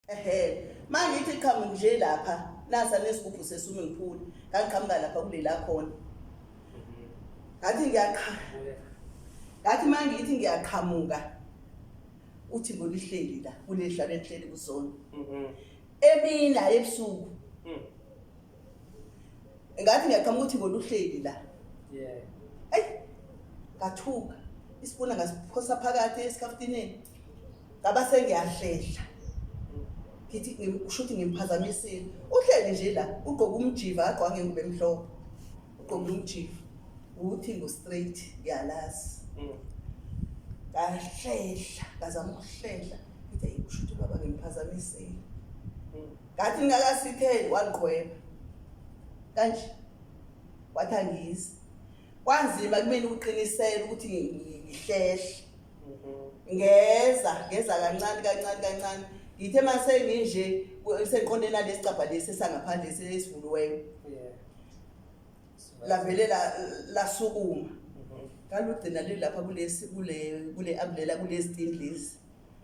ehe mangithi qhamuka nje lapha nasa nesigubhu seswimming pool ngaqhamuka lapha kulela khona ngathi ngiyaqhamuka ngathi mangithi ngiyaqhamuka uthi ngolihleli la kuleli hlala enhleli kuzona emina ebusuku mm. ngathi ngiyacama ukuthi ngona uhleli la yeah ay ngathuka isipuna ngasiphosa phakathi esikhafutineni ngaba sengiyahlela ngithi usho ukuthi ngimphazamisile uhleli nje la ugqoke umjiva agqoka ngengubo emhlophe ugqoke umjiva ukuthi ngo-straight ngiyalazi mm. ngahlehla ngazama ukuhlehla ngithi usho ukuthi ubaba ngimphazamisile mm. ngathi ngingakasitheli wagqweba kanje wathi angizi kwanzima kumina ukuqinisela ukuthi ngihlehle mhm. ngeza ngeza kancane kancane kancane ngithe uma senginje sengiqondeni nalesi cabha lesi esangaphandle esivuliweyo lavele lasukuma mhm. ngalugcina lilapha kulesi kule kule ambulela kulezi tindlisi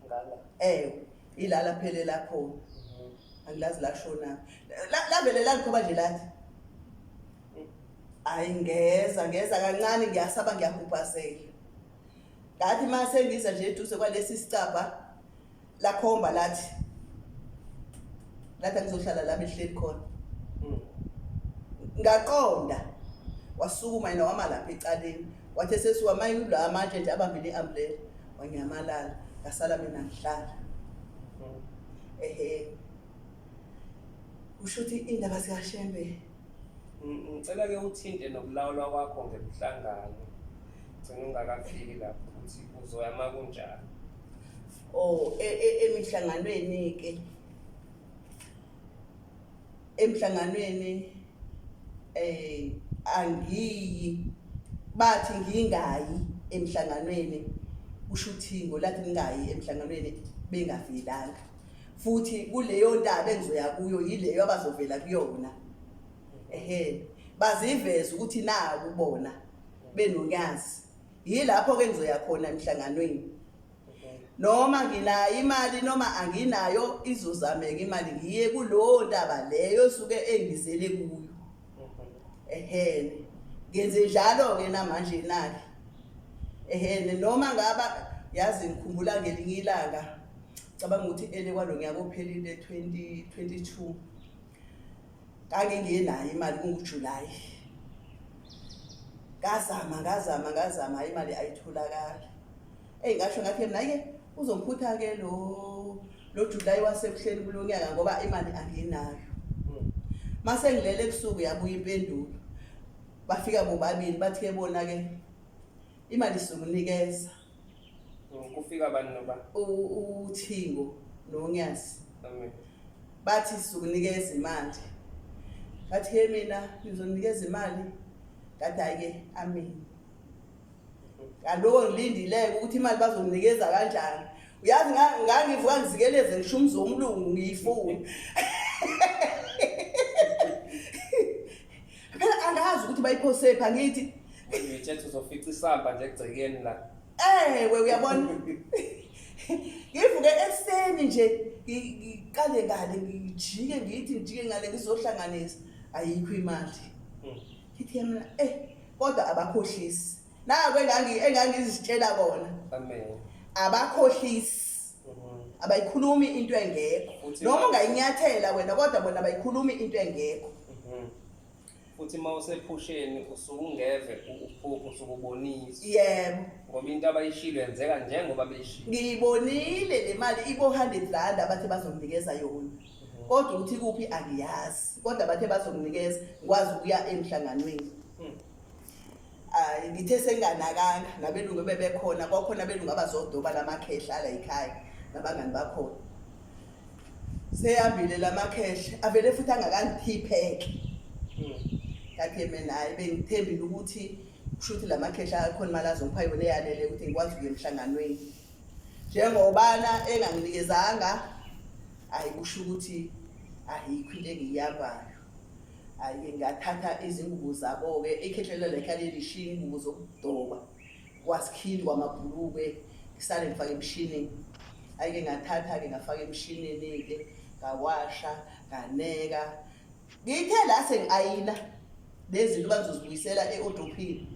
ngala eh ilala phele lakho angilazi lashona lavele lalikhoba nje lathi hayi ngeza ngeza kancane ngiyasaba ngiyahubhazela ngathi uma sengiza nje eduze kwalesi sicabha lakhomba lathi lathi angizohlala la behleli khona hmm. ngaqonda wasukuma yena wama lapha ecaleni wathe sesiwamayi ula manje nje abambile i-ambulela wanyamalala ngasala mina ngihlala ehe usho ukuthi indaba zikashembe ngicela ke uthinte nokulawulwa kwakho ngemhlangano gcina ungakafiki lapho ukuthi uzoya ma kunjalo o oh, e, e, emihlanganweni-ke emhlanganweni eh angiyi bathi ngingayi emhlanganweni usho ukuthi ngolathi ningayi emhlanganweni bengavelanga futhi kuleyo ndaba engizoya kuyo yileyo abazovela kuyona ehe baziveza ukuthi naku bona benonyazi yilapho ke ngizoya khona emhlanganweni noma nginayo imali noma anginayo izozameka imali ngiye kulowo ntaba leyo suke engizele kuyo ehene ngenze njalo-ke namanje nake ehene noma ngaba yazi ngikhumbula ngelinye ilanga cabanga ukuthi ele kwalo nyaka ophelile 2022 Kake ngiye nayo imali kunguJuly. Ngazama ngazama ngazama imali ayitholakali. Ey ngasho ngathi mina ke uzomphutha ke lo lo July wasebuhleni kulonyaka ngoba imali anginayo. Hmm. Mase ngilele ebusuku yabuya impendulo. Bafika bobabili bathi ke bona ke imali sizokunikeza kufika abantu noba uthingo nonyasi bathi sizokunikeza imali ngathi he mina nizonikeza imali ngathi hhayi-ke amini ngaloko ngilindileke ukuthi imali bazonginikeza kanjani uyazi ngangivuka ngizikeleze ngisho umzi womlungu ngiyifuni Phela angazi ukuthi bayiphosephi angithi. Ngiyethetha uzofica isamba nje egcekeni la. Ewe uyabona. Ngivuke ekuseni nje ngiqale ngale ngijike ngithi ngijike ngale ngizohlanganisa ayikho imali. Hmm. Ngithi mina eh kodwa abakhohlisi. Naku engangi engangizitshela kona. Amen. Abakhohlisi. abayikhulumi into engekho noma ungayinyathela wena kodwa bona abayikhulumi into engekho mhm. futhi uma usephusheni usuke ungeve uphupho usuke ubonisa yebo ngoba into abayishilo yenzeka njengoba beyishilo ngiyibonile le mali ibo-hundred rand abathe bazonginikeza yona mhm. kodwa ukuthi kuphi angiyazi kodwa bathe bazonginikeza ngikwazi ukuya emhlanganweni hmm. um ngithe senginganakanga nabelungu bebekhona kwakhona abelungu abazodoba la makhehla ala yikhaya nabangani bakhona seyambile la makhehla avele futhi angakangiphipheke kathi hmm. mina hhayi bengithembile ukuthi kusho ukuthi la makhehla akhona imali azongipha yona eyanele ukuthi ngikwazi ukuya emhlanganweni njengobana enganginikezanga ayi kusho ukuthi ayikho into engiyiyabayo Ayike ngathatha izingubo zabo-ke ikhehlelo lekhe alilishiya iy'ngubo zokudoba kwasikhindi kwamabhulukwe ngisale ngifake emshinini ayike ngathatha-ke ngafaka emshinini-ke ngawasha nganeka ngithe la sengi-ayina lezi zinto bazozibuyisela e-odophini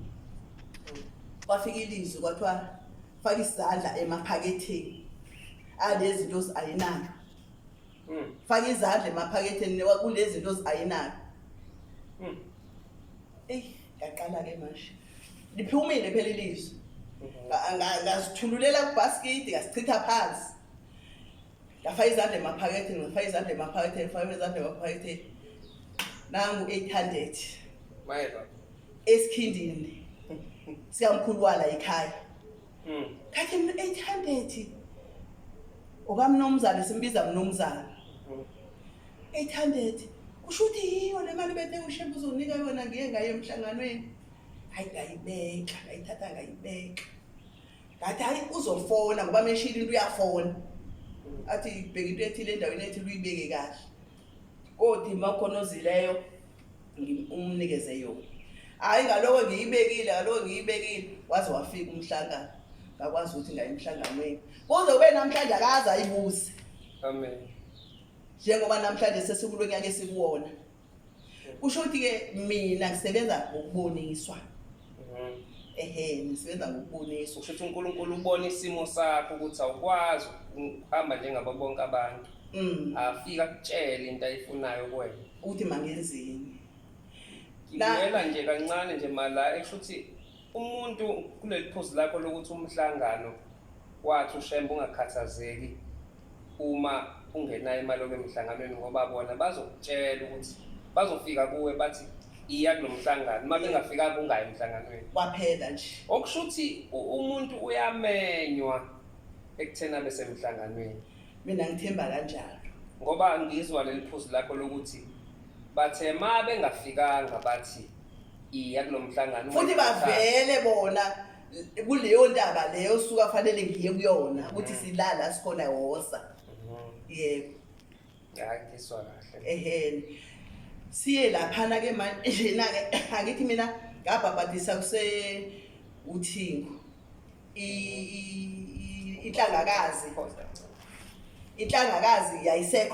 kwafika ilizwi kwathiwa faka isandla emaphaketheni alezi zinto zi-ayinayo mm. faka izandla emaphaketheni kulezi zinto oziayinayo mm. eyi ngaqala-ke manje liphumile phela ilizwe mm-hmm. ngazithululela kubhaskidi ngasichitha phansi ngafaka izandla emaphaketheni ngafaka izandla emaphaketheni ngafaka izandla emaphaketheni nangu 800 esikhindini sikamkhulu wala ekhaya Mm. Kathi 800 okamnomzana simbiza mnomzana. 800 kusho ukuthi yiyo le mali bethe ushembe uzonika yona ngiye ngaye emhlanganweni hayi ngayibeka ngayithatha ngayibeka ngathi hayi uzofona ngoba meshile into uyafona athi bheka into ethile endaweni ethi luyibeke kahle kodwa imakhono ozileyo umnikeze yona hhayi ngaloko ngiyibekile ngaloko ngiyibekile waze wafika umhlangano ngakwazi ukuthi ngaye emhlanganweni kuze kube namhlanje akaze ayibuze amen njengoba namhlanje sesikulo nyaka esikuwona kusho ukuthi-ke mina ngisebenza ngokuboniswa ehe nisebenza ngokubonisa kusho ukuthi uNkulunkulu ubona isimo sakho ukuthi awukwazi ukuhamba njengabo bonke abantu mm. afika kutshele into ayifunayo kuwena ukuthi mangenzini ngiyela nje kancane nje mala ekusho ukuthi umuntu kuleli phuzu lakho lokuthi umhlangano wathi ushembe ungakhathazeki uma ungenayo imali obe emhlanganweni ngoba bona bazokutshela ukuthi bazofika kuwe bathi iya kulo mhlangano uma bengafika kungayi emhlanganweni kwaphela nje okusho ukuthi umuntu uyamenywa ekutheni abe semhlanganweni mina ngithemba kanjalo ngoba ngizwa leli phuzu lakho lokuthi bathe ma bengafikanga bathi iya kulo mhlangano futhi bavele bona kuleyo ntaba leyo suka fanele ngiye kuyona ukuthi silala sikhona wosa yebo hayi ngiswa kahle eheni siye laphana ke manje njena ke angithi mina ngabhabhadisa kuse uthingo inhlangakazi inhlangakazi yayisekho